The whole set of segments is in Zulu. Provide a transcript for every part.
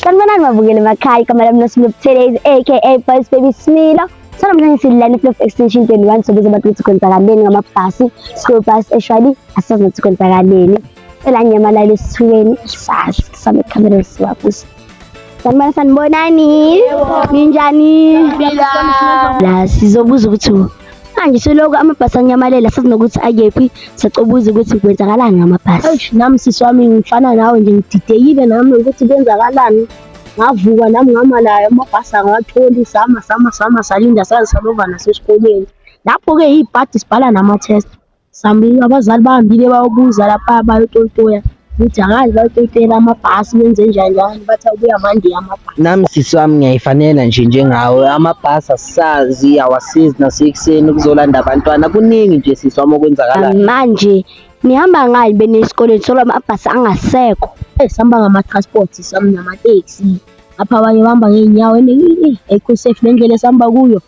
Sanibonani mabukeli emakhaya igama lami noSmilo Buthelezi aka Boys Baby Smilo sanamhlanje sidlala i-Flow Extension 21 sokuze abantu ukuthi kwenzakaleni ngamabhasi school bus eshwali asazi ukuthi kwenzakaleni elanyamalayo esithuleni sazi same khamera siwabusa Sanibona sanibonani. Ninjani? La sizobuza ukuthi manje soloko amabhasi anyamalela sazi nokuthi akephi sacobuza ukuthi kwenzakalani ngamabhasi. Eish nami sisi wami ngifana nawe nje ngididekile nami ukuthi kwenzakalani. Ngavuka nami ngama nayo amabhasi angawatholi sama sama sama salinda saze salova nasesikoleni. Lapho-ke iy'padi sibhala nama-test. Sambiwe abazali bahambile bayobuza lapha bayotoyitoya ukuthi angazi bayotoyitoyela amabhasi benze njani njani bathi abuya mandi amabhasi Nami sisi wami ngiyayifanela nje njengawe amabhasi asisazi awasizi nasekuseni ukuzolanda abantwana kuningi nje sisi wami okwenzakalayo. manje nihamba ngani benesikoleni solo amabhasi angasekho Eh, sihamba ngama-transport sami namateksi apha abanye bahamba ngey'nyawo and eh, ayikho safe le ndlela esihamba kuyo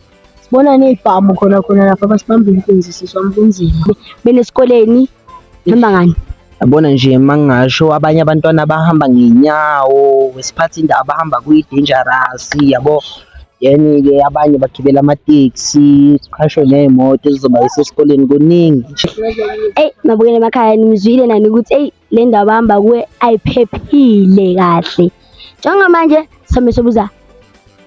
Sibona ney'bhamu khona khona lapha basibamba inkunzi siswa kunzima. Mina esikoleni hamba ngani? Yabona nje mangingasho abanye abantwana abahamba ngenyawo, wesiphathi indawo abahamba kuyi-dangerous yabo. Then-ke abanye bagibela amateksi, kuqhashwe ney'moto ezizobayisa esikoleni kuningi nje. Eyi nabukela emakhaya nimzwile nani ukuthi eyi le ndawo abahamba kuwe ayiphephile kahle njengamanje sami sobuza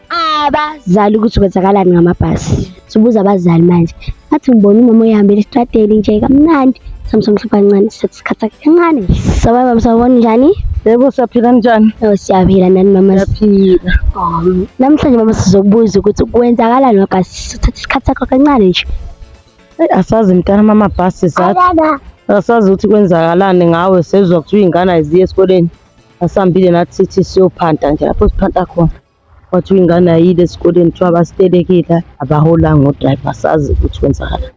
abazali ukuthi kwenzakalani ngamabhasi sobuza abazali manje athi ngibona umama uyihambela isitradeli nje kamnandi sami somhlupha kancane sithi sikhathi sakhe kancane sababa msabona njani yebo siyaphila njani oh siyaphila nani mama siyaphila namhlanje mama sizokubuza ukuthi kwenzakalani ngabhasi sithatha isikhathi sakho kancane nje Eyi asazi mntana mama bhasi sathi asazi ukuthi kwenzakalani ngawe sezwa kuthiwa iy'ngane ayiziye esikoleni asihambile nathi sithi siyophanta nje lapho siphanta khona kwathiwa ingane ayile esikoleni kuthiwa abasitelekile abaholanga odrayiva asazi ukuthi kwenzakalani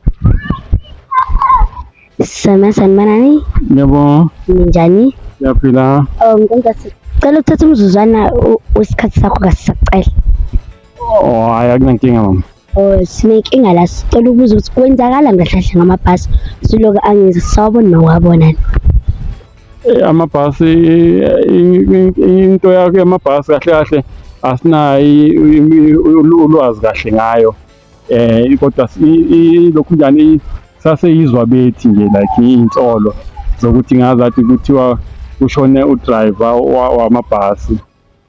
Sisame sanibonani yebo ninjani siyaphila um nkonkasi cela ukuthatha umzuzwana u- wesikhathi sakho kasisacela Oh, hayi akunankinga mama. Oh, sinenkinga la sicela ukubuza ukuthi kwenzakala ngahlahle ngamabhasi siloke angizi sawabona nowabona eh, amabhasi into yakhe amabhasi kahle kahle asinayi ulwazi kahle ngayo eh kodwa lokhu njani saseyizwa bethi nje like insolo zokuthi ngazathi kuthiwa kushone udriver wamabhasi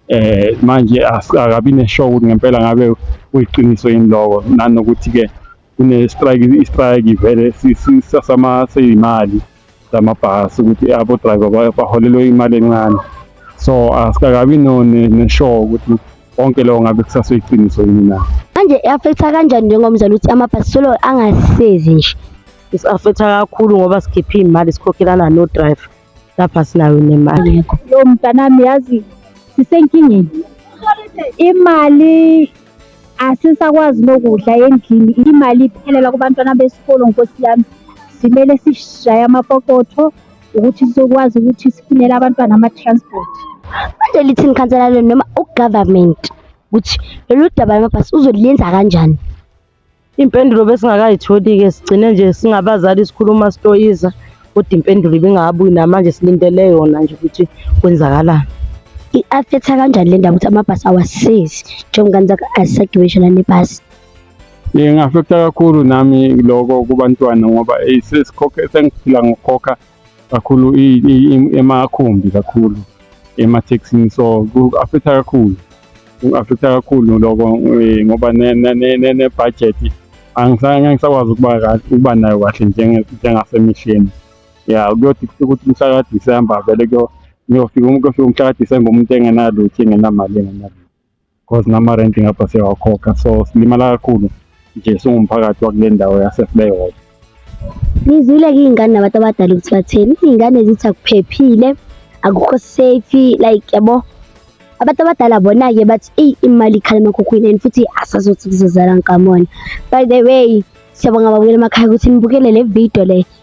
eh manje akabi neshow ukuthi ngempela ngabe uyiqiniso yini lokho nanokuthi ke kune strike i strike vele sisasama seyimali zamabhasi ukuthi abo driver baholelwe imali encane so asikakabi no neshow ukuthi konke lokho ngabe kusaseyiqiniso yini na manje i-affecta kanjani njengomzali ukuthi amabhasi solo angasisezi nje isi-affecta kakhulu ngoba sikhiphe iy'mali sikhokhelana no-driver lapha sinayo nemali yakho yo mntanami yazi sisenkingeni imali asisakwazi nokudla endlini imali iphelela kubantwana besikolo nkosi yami simele sishaye amapokotho ukuthi sizokwazi ukuthi sifunele abantwana ama-transport manje lithini ikhansela lenu noma ugovernment ukuthi lolu daba lamabhasi uzoliyenza kanjani Impendulo besingakayitholi-ke sigcine nje singabazali sikhuluma sitoyiza kodwa impendulo ibingabuyi namanje silindele yona nje ukuthi kwenzakalani. I-affectha kanjani le ndaba ukuthi amabhasi awasizi njengoba ngizaka asagibishela nebhasi? Ingafekta kakhulu nami loko kubantwana ngoba sesikhokhe sengiphila ngokukhokha kakhulu emakhumbi kakhulu emathekisini so ku-affecta kakhulu ku-affecta kakhulu loko eh, ngoba nebhajethi angisakwazi ukuba ukuba nayo kahle njengasemihleni ya kuyothi ukuthi umhla kadisemba vele kuyofika kuyofika umhla kadisemba umuntu engenalutho engenamali engenalutho cause nama-rent ngapha siyawakhokha so silimala kakhulu nje singumphakathi wakule ndawo yasefleyhop ngizwile-ke iy'ngane nabantu abadala ukuthi batheni iy'ngane zithi akuphephile akukho safe like yabo abantu abadala bona-ke bathi eyi imali ikhala emakhukhwini and futhi asazothi kuzozala ngikamona by the way siyabonga babukela emakhaya ukuthi nibukele le video le